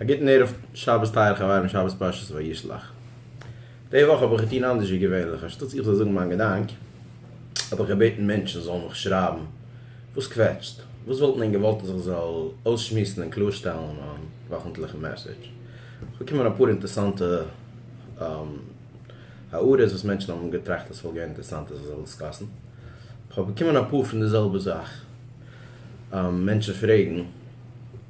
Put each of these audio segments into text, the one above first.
א גוטן ערב שבת טייערע חברים שבת פרשת וישלח. די וואך האב איך געטון אנדערש ווי געווענליך אנשטאטס איך זאל זאגן מיין געדאנק האב איך געבעטן מענטשן זאלן מיך שרייבן וואס קוועטשט, וואס וואלט מען געוואלט אז איך זאל אויסשמועסן און קלארשטעלן אין מיין וואכנטליכן מעסעדזש. ס'איז געקומען אפאר אינטערעסאנטע הערות וואס מענטשן האבן געטראכט אז ס'וואלט געווען אינטערעסאנט אז איך זאל דיסקאסן. כ'האב באקומען אפאר פון די זעלבע זאך, מענטשן פרעגן.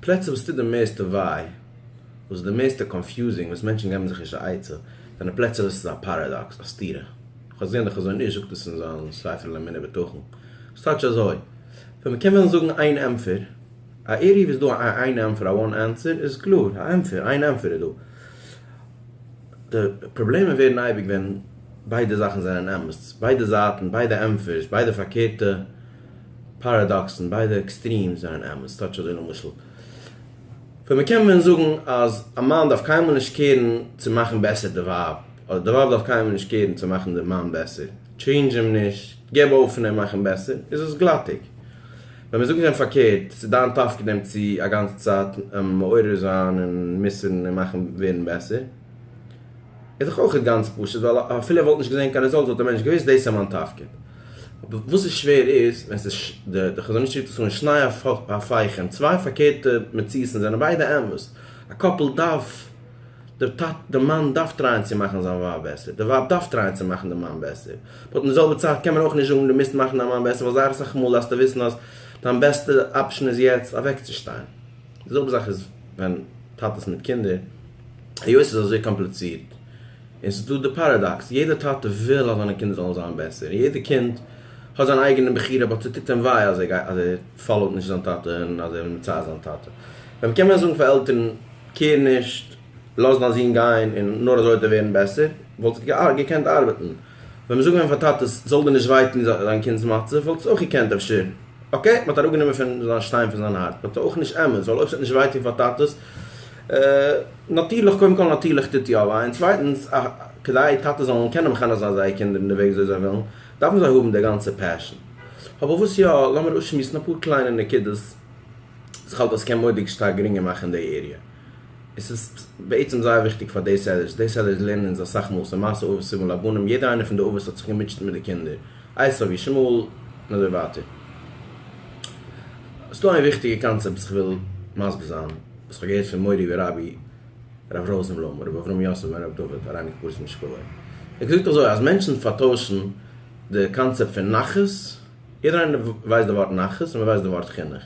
פלעצער וואס טוט די מערסטע וויי, וואס איז די מערסטע קאנפיוזינג, וואס מענטשן געבן זיך נישט א עצה, זענען פלעצער וואס איז א פאראדאקס, א סתירה. איך האב געזען די חזון איש זאגט עס אין זיין ספר על אמונה בטחון. ס'איז טאקע אזוי. ווען מ'קען וועלן זאגן איין ענטפער, א עירוב איז דא, א איין ענטפער, א וואן ענסער, איז קלאר, א ענטפער, איין ענטפער איז דא. די פראבלעמען ווערן אייביג ווען ביידע זאכן זענען אמת, ביידע זייטן, ביידע ענטפערס, ביידע פארקערטע פאראדאקסן, ביידע עקסטרימס זענען אמת, טאטש אזוי למשל ווען מען קען ווען זאגן אז א מאן דארף קיינמאל נישט קערן צו מאכן בעסער די ווייב, אדער די ווייב דארף קיינמאל נישט קערן צו מאכן די מאן בעסער, טשעינדזש אים נישט, געב אויף פון אים מאכן בעסער, איז עס גלאטיג. ווען מען זאגט דעם פארקערט, ס'איז דיין תפקיד אים צו א גאנצע צייט מעורר זיין און מוסר'ן און מאכן ווערן בעסער, איז דאך אויכעט גאנץ פשוט, ווייל אפילו ער וואלט נישט געזען קיין רעזאלט וואלט דער מענטש געוואוסט, דאס איז מיין תפקיד. וואס איז שווער איז ווען ס'איז די חזון איש שליט א און שניי הפייכען, צוויי פארקערטע מציאות'ן און זענען ביידע אמת, א קאפל דארף, די מאן דארף טרייען צו מאכן זיין ווייב בעסער, די ווייב דארף טרייען צו מאכן די מאן בעסער, באט אין די זעלבע צייט קען מען אויך נישט זאגן דו מוזט מאכן דיין מאן בעסער ווייל זייער אסאך מאל דארפסטו וויסן אז דיין בעסטע אפשן איז יעצט אוועקצושטיין, די זעלבע זאך איז ווען טאטעס מיט קינדער. היות ס'איז אזוי קאמפליצירט, און ס'איז דא די פאראדאקס, יעדע טאטע וויל אז זיינע קינדער זאלן זיין בעסער, און יעדע קינד האט זיין אייגענע בחירה, באט ס'טוט אים וויי אז ער פאלאוט נישט זיין טאטע, און אז ער וויל מצער זיין טאטע. ווען קען מען זאגן פאר עלטערן, קעיר נישט, לאז דיין זון גיין, און נאר אזוי וועט ער ווערן בעסער, וואלט עס געקענט ארבעטן. ווען מ'זאגט ווען פאר טאטעס זאל דיר נישט וויי טון דיין קינד'ס מצב וואלטסט אויך געקענט אפשר אקעי מ'האט אראפגענומען פון זיין שטיין פון זיין הארץ באט אויך נישט אמת ווייל אויב ס'וועט נישט וויי טון פאר טאטעס נאטירליך קודם כל נאטירליך טוט יא וויי און צווייטענס כדי טאטעס זאלן קענען מחנך זיין זייער קינדער אין די וועג וויאזוי זיי ווילן דארפן זיי האבן די גאנצע פעשען אבער וואס יא לאמיר אויסשמועסן אפאר קליינע נקודות וואס איך האלט אז ס'קען מורא'דיג שטארק גרינגער מאכן די עיריע. עס איז בעצם זייער וויכטיג פאר דעי סעלערס, דעי סעלערס לערנען אונז אסאך מאל ס'איז מעשה אבות סבא לבנים, יעדער איינער פון די אבות האט זיך געמוטשעט מיט די קינדער, עשו וישמעאל און אזוי ווייטער. ס'דא איין וויכטיגע קאנצעפט וואס כ'וויל מסביר זיין, וואס כ'האב געהערט פון מורי ורבי ר' ראזנבלום, ר' אברהם יוסף בן ר' דוד, אריינע קבורת משקלו. ער האט געזאגט אזוי, אז מענטשן פארטוישן די קאנצעפט פון נחת, יעדער איינער ווייסט די ווארט נחת און מען ווייסט די ווארט חינוך.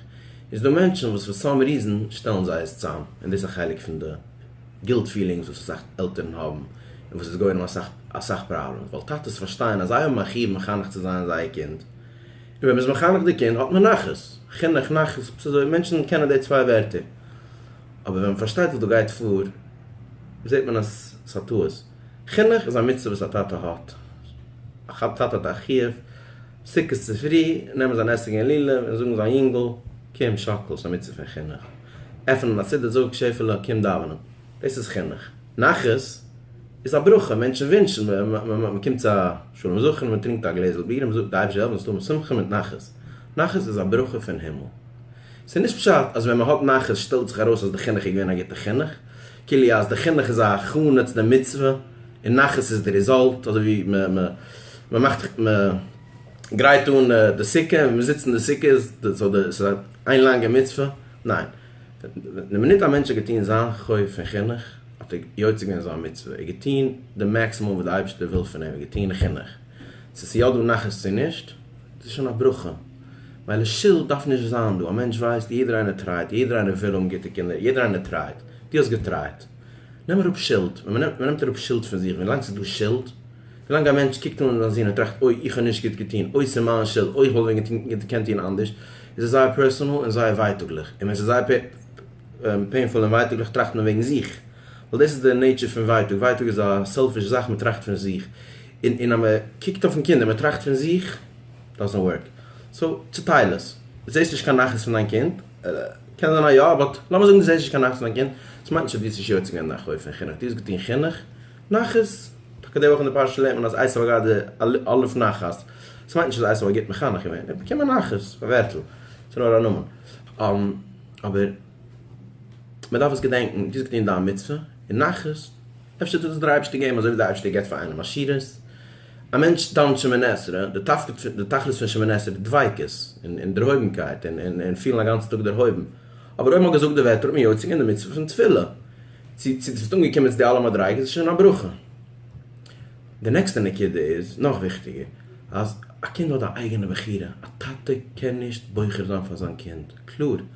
איז דא מענטשן וואס פאר סאם ריזען שטעלן זיי עס צאם און דאס איז א חלק פון די גילט פילינגס וואס אסאך עלטערן האבן און וואס איז גורם אסאך אסאך פראבלעמס ווייל טאטעס פארשטייען אז זיי האבן א חיוב מחנך צו זיין זייער קינד און ווען מען איז מחנך די קינד האט מען נחת. חינוך נחת ס'איז אזוי מענטשן קענען די צוויי ווערטער אבער ווען מען פארשטייט וואס דא גייט פאר זעט מען אז ס'איז א טעות. חינוך איז א מצוה וואס א טאטע האט. א חב ד טאטע האט א חיוב סוכות צופרי נעמען זיין עסק און לולב און זאגן זיין יונגל קום שאקל ס'איז א מצוה פון חינוך. עפענען א סידור זאג שעפעלע קום דאווענען דאס איז חינוך. נחת איז א ברכה מענטשן ווינטשן מ'קומט צו א שלום זכר מ'טרינקט א גלעזל ביר און מ'זאגט די אייבערשטער זאל אונז טון מיט שמחה מיט נחת. נחת איז א ברכה פון הימל. ס'איז נישט פשט אז ווען מ'האט נחת שטעלט זיך ארויס אז די חינוך איז געווען א גוטע חינוך. כאילו אז די חינוך איז א הכנה צו די מצוה, און נחת איז די ריזאלט, אזוי ווי מען מאכט מען גרייט אן די סוכה און מען זיצט אין די סוכה איז עס איין לאנגע מצוה, ניין, די מינוט א מענטש האט געטון זיין חוב פון חינוך האט ער יוצא געווען זיין מצוה, ער האט געטון די מעקסימום וואס די אייבערשטער וויל פון אים, ער האט געטון חינוך, צו עס איז יא דא נחת צו נישט. דאס איז שוין א ברכה, ווייל שולד דארף נישט זיין דא, א מענטש ווייסט יעדער איינער טרייט, יעדער איינער וויל האבן גוטע קינדער, יעדער איינער טרייט, דו האסט געטרייט, נעם אראפ שולד, ווען מען נעמט אראפ שולד פון זיך, ווילאנג ס'איז דא שולד, ווילאנג א מענטש קוקט אן זיין זון און טראכט אוי איך האב נישט גוט געטון, אוי ס'איז מיין שולד, אוי איך וואלט ווען געקענט טון אנדערש, איז עס זייער פערסאנעל און זייער ווייטאגליך, און ווען ס'איז זייער פעינפול און ווייטאגליך טראכט מען וועגן זיך, ווייל דאס איז די נעיטשער פון ווייטאג, ווייטאג איז א סעלפיש זאך, מען טראכט פון זיך. און און אז מען קוקט אויפן קינד און מען טראכט פון זיך, דאזענט ווארק. סאו צוטייל עס. זעסט נישט קיין נחת פון דיין קינד? קען זיין אז יא, באט לאמיר זאגן דו זעסט נישט קיין נחת פון דיין קינד, דאס מיינט נישט אז דו האסט נישט יוצא געווען דיין חוב פון חינוך, דו האסט געטון חינוך, נחת, טאקע די וואך אין די פרשה לערנט מען אז עשו הגה ד אלף נחת, דאס מיינט נישט אז עשו האט גוט מחנך געווען, ער האט באקומען נחת, א ווערטל, ס'נאר א נאמען. אבער. מען דארף עס געדענקן, דו האסט געטון דיין מצוה און נחת, אפשר טוט עס דיר אייבערשטער געבן אזוי ווי דער אייבערשטער געבט פאר איינעם עשירות, א מענטש דאוונט שמונה עשרה, די תפקיד די תכלית פון שמונה עשרה איז דביקות און דערהויבנקייט און פילן א גאנצן טאג דערהויבן, אבער אויב מען האט געזאגט די ווערטער האט מען יוצא געווען די מצוה פון תפילה, צו צו דו ביסט אנגעקומען צו די אלע מדריגות איז שוין א ברכה. די נעקסטע נקודה איז נאך וויכטיגער, אז א קינד האט א אייגענע בחירה, א טאטע קען נישט בוחר זיין פאר זיין קינד, קלאר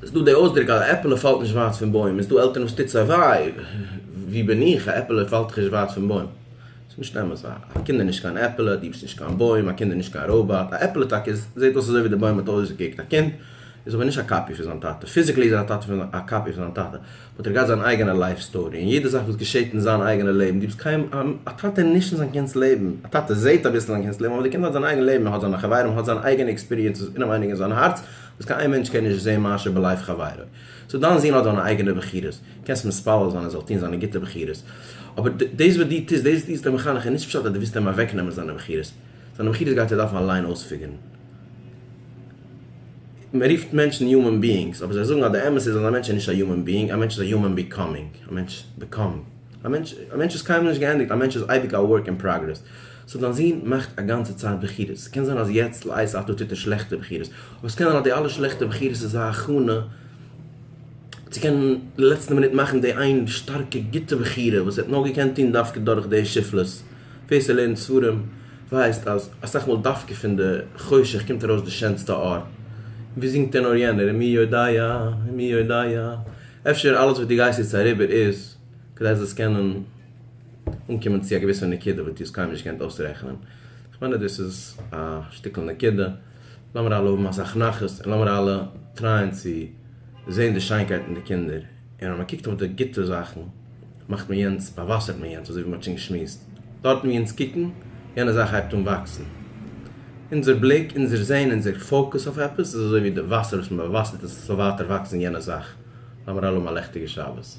ס'איז דא די אויסדרוק אז א עפעלע פאלט נישט ווייט פון בוים, איז דא עלטערן וואס טוט זיי וויי, ווי בין איך, א עפעלע פאלט דאך נישט ווייט פון בוים. ס'איז נישט אמת, א קינד איז נישט קיין עפעלע, דו ביסט נישט קיין בוים, א קינד איז נישט קיין ראובאט, א עפעלע טאקע איז, זעט אויס אזוי ווי די בוים האט אויסגעקוקט, א קינד איז אבער נישט א קאפי פון זיין טאטע, פיזיקלי איז ער א קאפי פון זיין טאטע, האט ער געהאט זיין אייגענע לייף סטארי און יעדע זאך וואס געשעהט אין זיין אייגענע לעבן גיבט קיין א טאטע נישט אין זיין קינדס לעבן, א טאטע זעהט אביסל אין זיין קינדס לעבן אבער די קינד האט זיין אייגענע לעבן ער האט זיינע חברים האט זיין אייגענע עקספיריענסעס אינעווייניג אין זיין הארץ וואס קיין איין מענטש קען נישט זעהן מאשר בלייב חברו סאו דיין זון האט זיינע אייגענע בחירות קענסט מתפלל זיין ער זאל טוהן זיינע גוטע בחירות אבער דאס וואס דו טוסט דאס וואס דו ביסט אים מחנך איז נישט פשט אז דו ווילסט אים אוועקנעמען זיינע בחירות זיינע בחירות גייט ער דארפן אליין אויספיגערן. מען רופט מענטשן יומען ביאינגס, אבער זיי זאגן אז די אמת איז אז א מענטש איז נישט א יומען ביאינג, א מענטש איז א יומען ביקאמינג, א מענטש באקומט, א מענטש, א מענטש איז קיינמאל נישט געענדיגט, א מענטש איז אייביג א ווארק אין פראגרעס. סאו דיין זון מאכט א גאנצע צייט בחירות, ס'קען זיין אז יעצט לעת עתה טוט ער שלעכטע בחירות, אבער ס'קען זיין אז די אלע שלעכטע בחירות איז א הכנה צו קענען אין די לעצטע מינוט מאכן די איין שטארקע גוטע בחירה וואס ער האט נאר געקענט טון דווקא דורך די שפלות. ווער ס'האט לערנט ספרים ווייסט אז אסאך מאל דווקא פון די חושך קומט ארויס די שענסטע אור. ווי זינגט ער נאר יענער ומי יודע ומי יודע. אפשר אלעס וואס דו גייסט יעצט אריבער איז כדי זאלסט קענען אנקומען צו א געוויסע נקודה וואס דו האסט קיינמאל נישט געקענט אויסרעכענען. כ'מיין אז דאס איז א שטיקל נקודה. לאמיר אלע האבן אסאך נחת און לאמיר אלע טרייען צו זען די שיינקייט אין די קינדער. און ווען מען קוקט אויף די גוטע זאכן מאכט מען יענץ, באוואסערט מען יענץ, אזוי ווי מען האט שוין געשמועסט דארטן ווי אונז קוקן, יענע זאך הייבט אן וואקסן. אונזער בליק, אונזער זען, אונזער פאוקוס אויף עפעס איז אזוי ווי די וואסער וואס מען באוואסערט עס עס זאל ווייטער וואקסן יענע זאך. לאמיר אלעמען א לעכטיגע שבת.